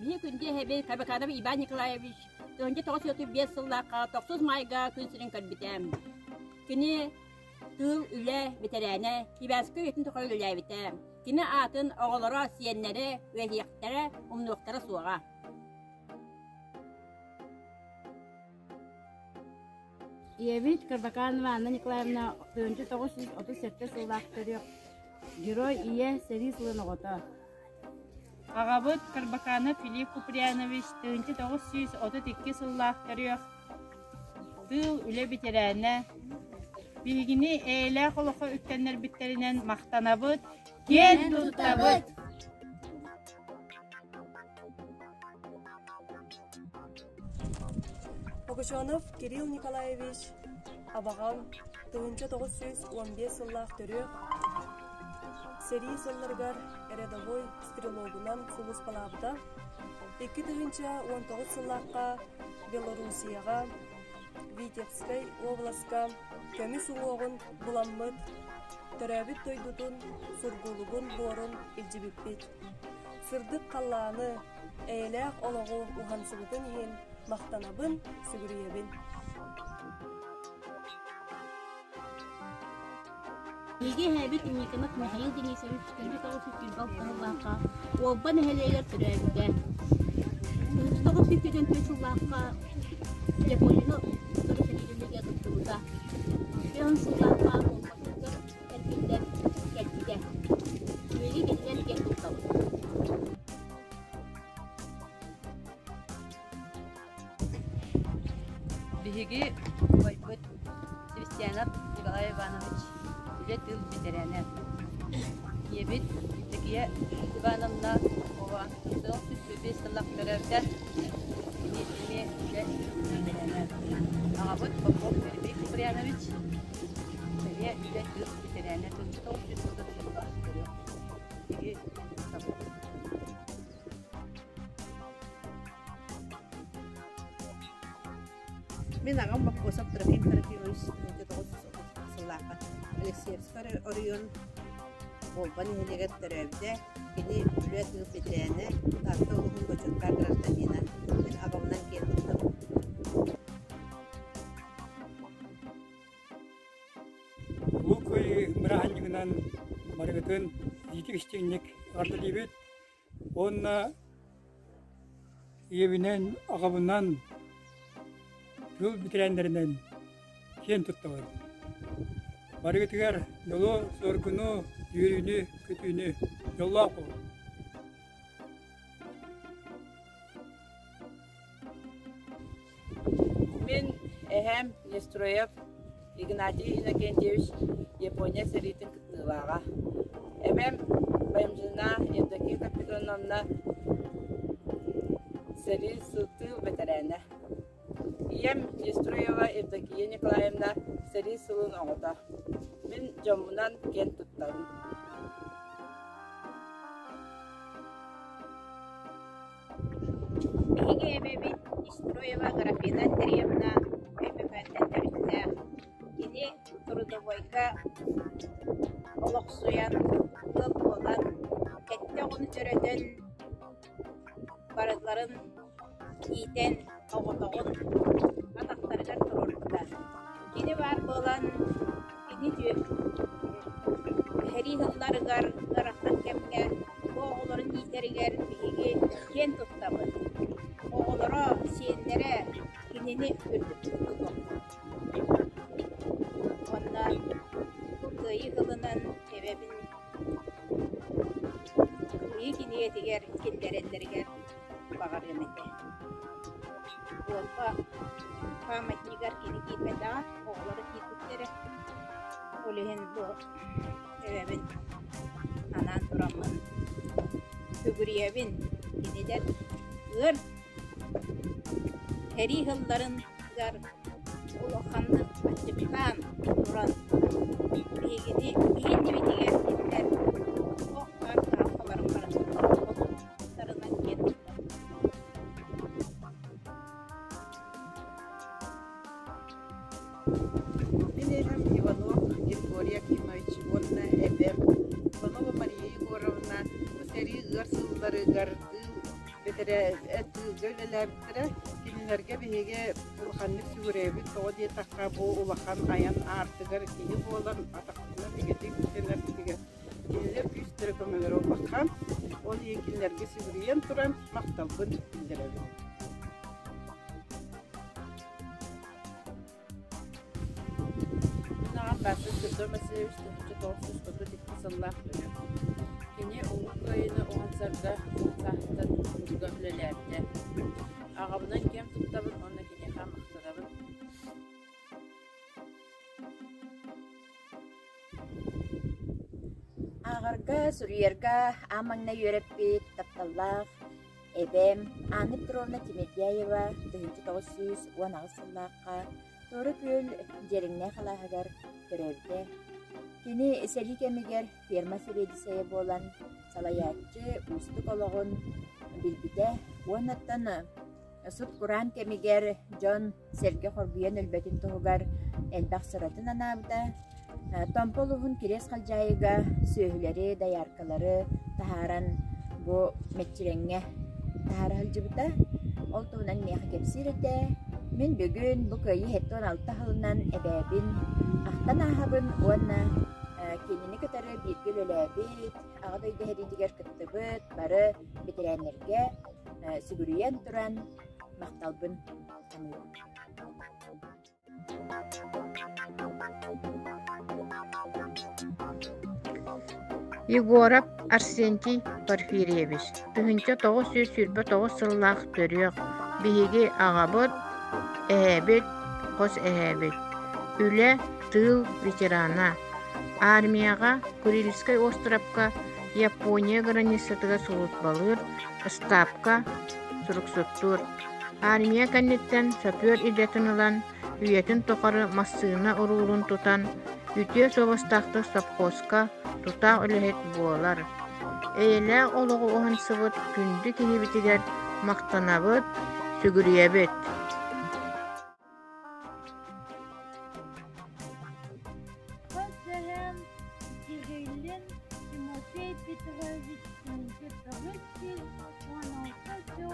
Биһи күндү эһэби Кабаканова Иван Николаевич Тыһынча тоҕус отут биэс сыллаахха тохсус майга күн сирин көрбүтэ. Кини тыыл үлэ бэтэрээнэ Кибээскэ үйэтин тоҕо үлэлээбитэ. Кини аатын оҕолоро, сиэннэрэ, үөһиэхтэрэ, умнуохтара суоҕа. Ийэбит Кырбакаанова Анна Николаевна тыһыынча тоҕус сүүс отут сэттэ сыллаах төрүөх Герой ийэ сэрии сылын оҕото. Аҕабыт Кырбакаанов Филипп Куприянович тыһыынча тоҕус сүүс отут икки сыллаах төрүөх тыыл үлэ бэтэрээнэ. Биһигини эйэлээх олоххо үктэннэрбиттэринэн махтанабыт, киэн туттабыт! Погачев Кирилл Николаевич абаҕам, тыһыынча тоҕус сүүс уон биэс сыллаах төрүөх, сэрии сылларыгар рядовой стрелогунан сулууспалаабыта, икки тыһыынча уон тоҕус сыллаахха Белоруссияҕа, Витебскай уобаласка көмүс уҥуоҕун буламмыт, төрөөбүт дойдутун, сургулугун буорун илдьибиппит. Сырдык халлааны, эйэлээх олоҕу уһансыбытын иһин махтанабын, сүгүрүйэбин. Биһиги эһэбит Никонов Михаил Денисович төрүт оҕус үтүрбэх сыллаахха Уолба нэһилиэгэр төрөөбүтэ. Тоҕус бүккүтүн түөрт сыллаахха Японина сорук нэһилиэгэ туттубута. Үөн сыллаахха Кэлбитэ, кэлбитэ. Үөрүү кэтинэн диэн куттабыт. Биһиги убайбыт Христианов Николай Иванович үлэ тыл бэтэрээнэ. Ийэбит Евдокия Ивановна Попова сорох түспүппүт сыллах төрөөбүтэ эмиэ эмиэ үлэ бэтэрээнэ. Аҕабыт Попов Эрбей Куприянович Бэйэ үлэ тыас бэтэрээнэ сырдык оҥочосугар дьоллоох көрүөх киһи Мин аҕам Маккосов Трофим Трофимович сыллаахха Алексеевскай оройуон Болба нэһилиэгэр төрөөбүтэ. Кини үлэ тыыл бэтэрээнэ, Таатта улууһун бочуоттаах гражданина. Мин абамнан киэн туттабын. Луук Кыайыы бырааһынньыгынан барыгытын иитик-истиҥник арыллыбыт уонна ийэбинэн, аҕабынан, тыл бэтэрээннэринэн киэн туттабын. Барыгытыгар дьолу, соргуну, үөрүүнү, көтүүнү, дьоллоох буолун! Мин эһээм Нестроев Игнатий Иннокентьевич Япония сэриитин кыттыылааҕа. Эбэм Баймжина Евдокия Капитоновна сэрии сылтыы бэтэрээнэ. Ийэм Нестроева Евдокия Николаевна сэрии сылын оҕото. Мин дьоммунан киэн туттабын. Биһиги эбэбит Строева Аграфена Андреевна Өймөкөөнтөн төрүттээх. Кини трудовойга олохсуйан, ыал буолан, кэттэ оҕону төрөтөн, барыларын иитэн, соҕотоҕун атахтарыгар туруоруохтаах. Кини баар буолан, кини дьү сэрии сылларыгар ыарахан кэмҥэ бу оҕолорун иитэригэр биһиги киэн туттабыт. Оҕолоро, сиэннэрэ кинини үрдүк тутуллаллар. Онно бу Кыайыы сылынан эбэбин кыайыы киниэтигэр киллэрэллэригэр баҕарыам ити Уопа памятнигар кини киирбэтэҕэ оҕолоро киирбиттэрэ ол иһин бу эбэбин анаан тураммын сүгүрүйэбин кинилэр ыар сэрии сылларыгар улаханнык аччыктаан туран биһигини иһиннибитигэр кинилэр ох аар таалкаларын барытын тылларынан киэн туттар Мин иһим Иванов Григорий Акимович уонна эбэм Иванова Мария Егоровна бу сэрии ыар сылларыгар тыылга үлэлээбиттэрэ кинилэргэ биһиги улаханнык сүгүрүйэбит тоҕо диэтэххэ бу улахан айан аартыгар киһи буолан атахтына итинник ситэнэр Кинилэр күүстэрэ көмөлөрө улахан, ол иһин кинилэргэ сүгүрүйэн туран махталбын биллэрэбин. Мунаҕан Даасыр Федор Васильевич Тутучу тоҕурсуспуту икки сыллаах көнө. Кини Улуу Кыайыыны уһансарга саастан тутуга үлэлээбитэ. Аҕабынан кэм туттабын уонна киниэхэ махтанабын. Ааҕарга, суруйарга аан маҥнай үөрэппит тапталлаах эбэм Анна Петровна Тимирдяева тыһыынча тоҕус сүүс уон аҕыс сыллаахха Туора Күөл Дьиэрэҥнээх алааһыгар төрөөбүтэ. Кини сэрии кэмигэр ферма сэбиэдиссэйэ буолан, салайааччы уустук олоҕун билбитэ уонна сут-кураан кэмигэр дьон сэргэ хоргуйан өлбөтүн туһугар элбэх сыратын анаабыта, Томпо улууһун Кириэс Халдьаайыга сүөһүлэри, дояркалары таһааран бу мэччирэҥҥэ таһаара сылдьыбыта. Ол туһунан миэхэ кэпсиир этэ. Мин бүгүн бу кыайыы сэттэ уон алта сылынан эбээбин, ахтан ааһабын уонна кинини кытары бииргэ үлэлээбит, Аҕа дойду сэриитигэр кыттыбыт бары бэтэрээннэргэ сүгүрүйэн туран махталбын Егоров Арсентий Порфирьевич, тыһыынча тоҕус сүүс сүүрбэ тоҕус сыллаах төрүөх. Биһиги аҕабыт, эһэбит, хос эһэбит. Үлэ, тыыл ветерана. Армияҕа Курильскай островка Япония границатыгар службалыыр, ыстаапка суруксуттуур. Армия кэнниттэн шофер идэтин ылан, үйэтин тухары массыына уруулун тутан, үтүө суобастаахтык сопхуоска тутаах үлэһит буолар. Эйэлээх олоҕу уһансыбыт күндү киһибитигэр махтанабыт, сүгүрүйэбит. Көрсүһэн Кириллин Тимофей Петрович кэнники тоҕус сүүс уон алта сыл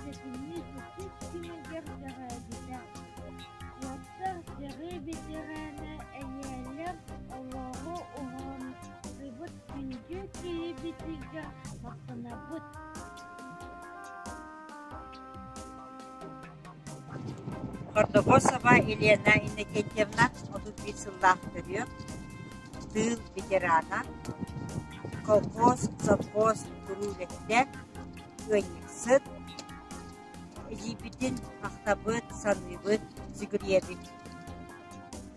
сэтинньи иккис күнүгэр дэҕээбитэ. Уоттар дьарыы ветераана эйээлэр олоҕу уһуннубут күндү киһибитигэр махтанабыт. Гордогосова Елена Иннокентьевна отут биир сыллаах төрүөт, тыыл ветерана, колхоз, совхоз куруу үлэһитэ, ыанньыксыт, илиибитин ахтабыт, саныыбыт Зигребит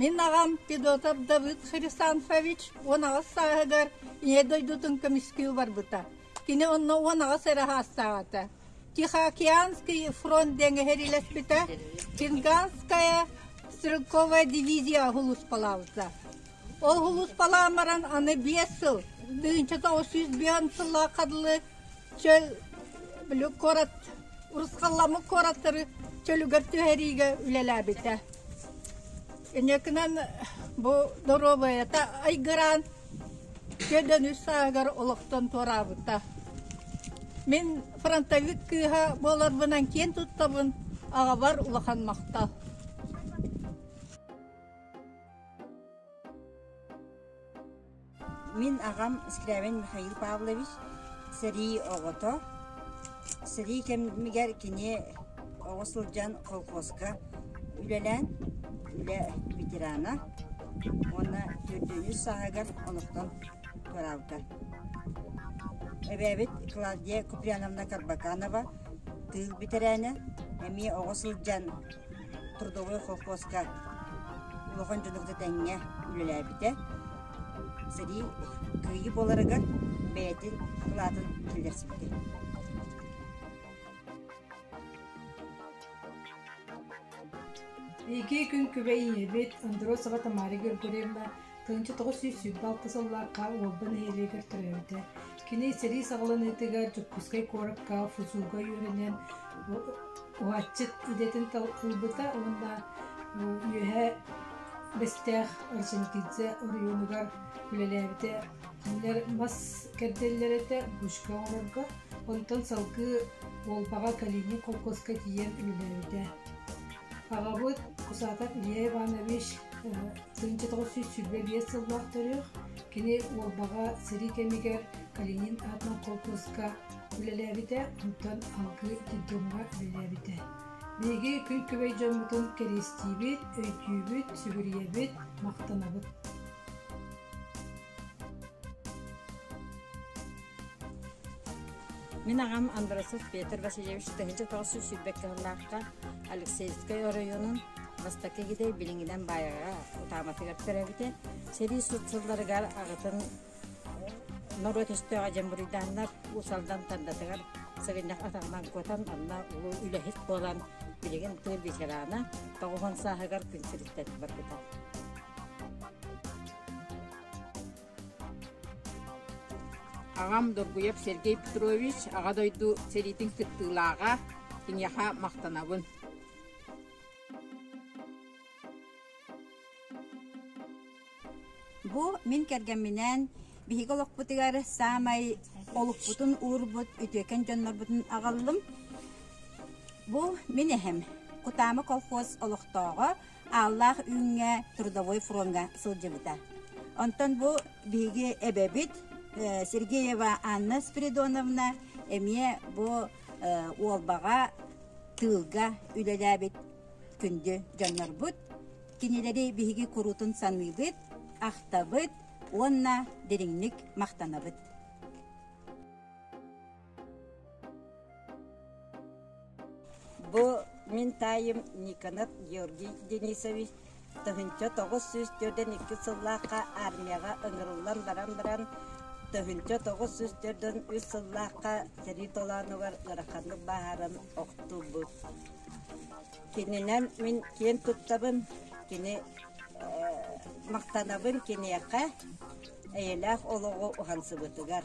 Мин аҕам Федотов Давыд Хрисанфович уон аҕыс сааһыгар Ийэ дойдутун көмүскүү барбыта. Кини онно уон аҕыс эрэ саастаах этэ. Тихоокеанский фронт диэн эһэрилэспитэ, Чинганская стрелковая дивизия сулууспалаабыта. Ол сулууспалаан баран аны биэс сыл, тыһыынчата отuz сүүс сыллаах хадылы чөл бүлүк куорат урусхалламык куораттары чөлүгэр түһэриигэ үлэлээбитэ. Инекынан бу доруобайата айгыраан күөдөн үс саагар олохтон туораабыта. Мин фронтовик кыыһа буоларбынан киэн туттабын аҕабар улахан махтал. Мин аҕам Скрябин Михаил Павлович, сэрии оҕото. Сэрии кэмигэр кини оҕо сылдьан колхозка үлэлээн, үлэ ветерана уонна төрдүнүүс сааһыгар олохтон туораабыта. Эбээбит Клавдия Куприяновна Карбаканова тыыл бэтэрээнэ, эмиэ оҕо сылдьан трудовой холкуоска улахан дьонугда тэҥҥэ үлэлээбитэ. Сэрии кыайыы буоларыгар бэйэтин акылаатын киллэрсибитэ. Iki күн күбэй ийэбит Андроцева Тамара Григорьевна Тыынча тоҕус сүүс сүүс балта сыллаахха Уолба нэһилиэгэр төрөөбүтэ. Кини сэрии саҕаланыытыгар Дьокуускай куоракка ФУЗУга үөрэнэн уһааччыт идэтин талкыйбыта уонна үөһэ Бэстээх Орджоникидзе оройуонугар үлэлээбитэ. Кинилэр мас кэрдэллэр этэ бушка оҥорорго, онтон салгыы Уолбаҕа Калиниҥ холкуоска тиийэн үлэлээбитэ. Аҕабыт Кусаатап Илья Иванович тыһыынча тоҕус сүүс сүүрбэ биэс сыллаах төрүөх кини Уолбаҕа сэрии кэмигэр Калинин аатынан холкуоска үлэлээбитэ, онтон алгыы детдомҥа үлэлээбитэ. Биһиги күн күбэй дьоммутун кэриэстиибит, өйдүүбүт, сүгүрүйэбит, махтанабыт. Мин аҕам Андросов Петр Васильевич тыһыынча тоҕус сүүс сүүрбэккэ сыллаахха Алексеевскай оройуонун бастакы китэй билиҥҥинэн баайаҕа утааматыгар төрөөбүтэ. Сэрии суут сылларыгар аҕатын норуот өстөөҕө дьэн буруйдааннар Уус-Алдан Тандатыгар сыгынньах атаҕынан кутан, онно улуу үлэһит буолан, билигин тыыл ветерана, тоҕуһун сааһыгар күн сириттэн барбыта. Аҕам Доргуев Сергей Петрович, Аҕа дойду сэриитин кыттыылааҕа, киниэхэ махтанабын. Бу мин кэргэмминээн биһиги олохпутугар саамай олукпутун уурбут үтүөкэн дьоннорбутун аҕаллым. Бу мин эһэм, Кутаама колхоз олохтооҕо Ааллаах үүҥҥэ трудовой фроҥҥа сылдьыбыта. Онтон бу биһиги эбэбит Сергеева Анна Спиридоновна эмиэ бу Уолбаҕа тыылга үлэлээбит күндү дьоннорбут. Кинилэри биһиги куруутун саныыбыт, ахтабыт уонна дириҥник махтанабыт. Бу мин таайым Никонов Георгий Денисович тыһыынча тоҕус сүүс төрдөн икки сыллаахха армияҕа ыҥырыллан баран баран тыһыынча тоҕус сүүс төрдөн үс сыллаахха сэрии толоонугар ыараханнык бааһыран охтуурбут. Кининэн мин киэн туттабын, кини махтанабын киниэхэ, эйэлээх олоҕу уһансыбытыгар.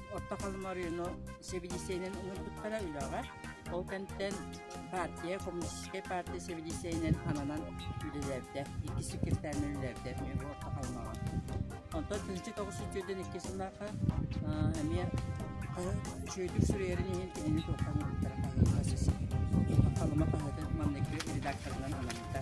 Орто Халмарыыну сибилисиэнин ыҥырбыттара үлэҕэ. Ол кэнтэн партия, коммунистическай партия сибилисиэнинэн ананан үлэлэрдэ. Икки секретарынан үлэлэрдэ эмиэ Орто Халмаҕа. Онтон тыһыынча тоҕус үтүөдэн икки сыллаахха эмиэ Шөйдүк суруйарын иһин кинини туохтан ылыттара хаһыытас. Халыма хаһыатын маннык редакторынан анаммыта.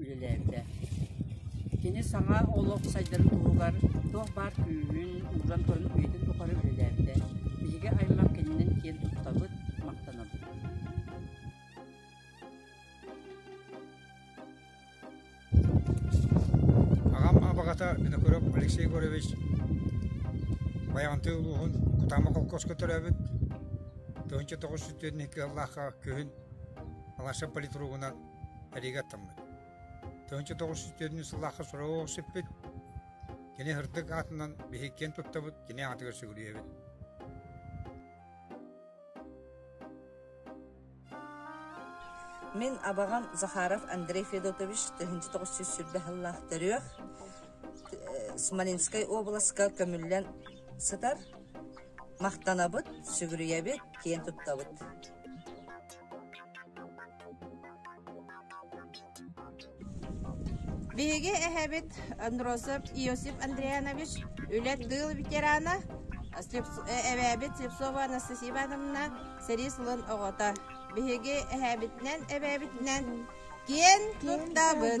үлэлээтэ. Кини саҥа олох сайдарын туһугар туох баар күүһүн ууран туран үйэтин тухары үлэлээбитэ. Биһиги аймах кининэн киэн туттабыт, махтанабыт. Аҕам абаҕата Винокуров Алексей Егорович Байаҕантыы улууһун Кутаама холкуоска төрөөбүт. тыһыынча тоҕус сүүс түөрт сыллаахха күһүн Алаша политругунан Ригаттаммыт. Тыһыынча тоҕус сүүс төрүннүү сыллаахха сураҕы сиппит, кини һырдык аатынан биһик киэн туттабыт, кини аатыгар сүгүрүйэбит. Мин абаҕам Захаров Андрей Федотович тыһыынча тоҕус сүүс сүрбэ сыллаах төрүөх Смоленскай областка көмүллэн сытар махтанабыт, сүгүрүйэбит, киэн туттабыт. Биһиги эһэбит Андросов Иосиф Андрианович үлэ-тыыл ветерана, эбээбит Слепцова Анастасия Ивановна сэрии сылын оҕото. Биһиги эһэбитинэн, эбээбитинэн киэн туттабыт.